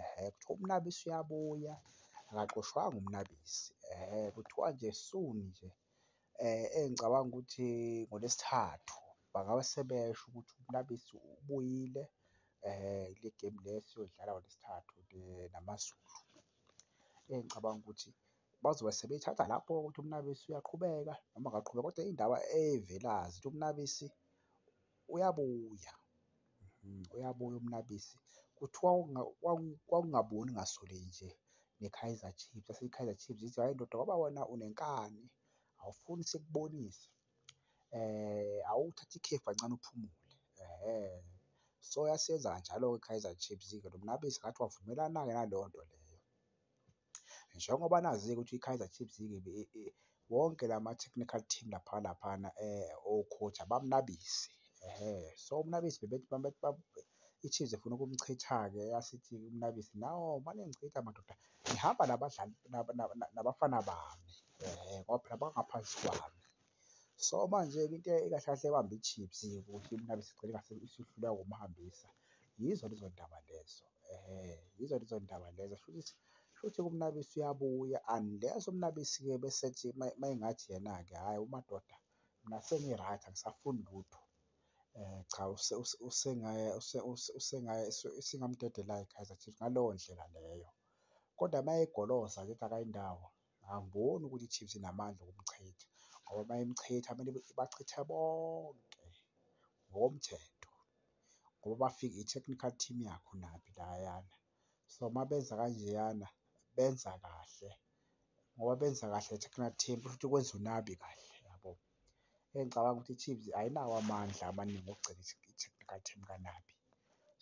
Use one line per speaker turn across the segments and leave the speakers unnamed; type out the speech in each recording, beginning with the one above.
Ehhe, kuthiwa uMnabisi uyabuya, akaxoshwanga uMnabisi. Ehhe, kuthiwa nje soon nje engicabanga ukuthi ngoLwesithathu bangaba sebesho ukuthi uMnabisi ubuyile kule gemu le esiyodlala ngoLwesithathu naMaZulu. Engicabanga ukuthi bazobe sebeyithatha lapho ukuthi uMnabisi uyaqhubeka noma akaqhubeki kodwa indaba evelayo ukuthi uMnabisi uyabuya mhm. uyabuya umnabisi kuthiwa kwakungaboni ngasole nje ne-Kaizer Chiefs aseyi-Kaizer Chiefs ithi hhayi ndoda ngoba wena unenkani awufuni sikubonise eh awuthathe ikhefu kancane uphumule ehhe so yasenza kanjalo-ke i-Kaizer Chiefs-ke lo mnabisi ngathi wavumelana-ke naleyo nto leyo. Njengoba nazi-ke ukuthi iKaizer Chiefs wonke la ma-technical team lapha laphana o-coach abamnabisi. Ehhe, so umnabisi bebethi i-Chiefs ifuna ukumchitha-ke yasithi umnabisi, no maningichitha madoda ngihamba nabadlali nabafana bami ngoba phela bangaphansi kwami. So manje-ke into ekahle kahle ebambe i-chips ukuthi mna besigcine ngathi isihluleka ukumhambisa, yizo lezo ndaba lezo yizo lezo ndaba lezo. Shuthi shuthi uMnabisi uyabuya unless uMnabisi-ke bese ethi uma engathi yena-ke hhayi umadoda mina sengi-right angisafuni lutho cha isingamdedela iKaizer Chiefs ngaleyo ndlela leyo. Kodwa uma egoloza ngithi akayi ndawo Angiboni ukuthi iChiefs inamandla okumchitha ngoba mayimchitha kumele ibachithe bonke ngokomthetho ngoba bafike i-technical team yakho naphi layana. So mabenza kanjeyana benza kahle ngoba benza kahle i-technical team kusho ukuthi kwenza uNabi kahle yabo. Engicabanga ukuthi iChiefs ayinawo amandla amaningi okugcina i-technical team kaNabi.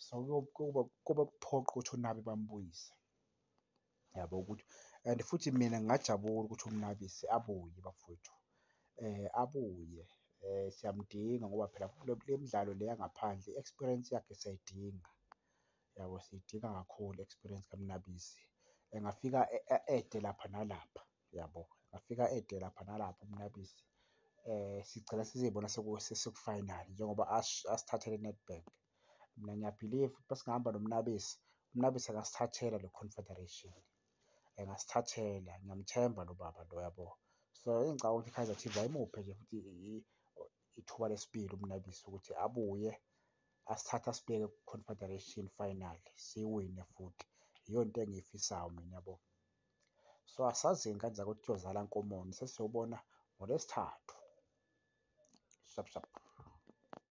So kuyoba kuphoqa ukuthi uNabi bambuyise. yabo ukuthi and futhi mina ngingajabula ukuthi uMnabisi abuye bafowethu um abuye um siyamdinga ngoba phela kule midlalo le yangaphandle i-experience yakhe siyayidinga yabo siyidinga kakhulu i-experience kaMnabisi engafika ede lapha nalapha yabo engafika ede lapha nalapha uMnabisi um sigcina sizibona sekufinal njengoba asithathele i-Nedbank. mina ngiyabhiliva ukuthi masingahamba nomnabisi umnabisi angasithathela le confederation engasithathela ngiyamthemba lo baba lo yabo so engicabanga ukuthi i-kaizer chiefs ayimuphe nje futhi ithuba lesibili umnabisi ukuthi abuye asithathe asibeke ku-confederation final siwine futhi yiyo into engiyifisayo mina yabo so asazini kanjani ukuthi kuyozala nkomoni sesiyobona ngolwesithathu shap shap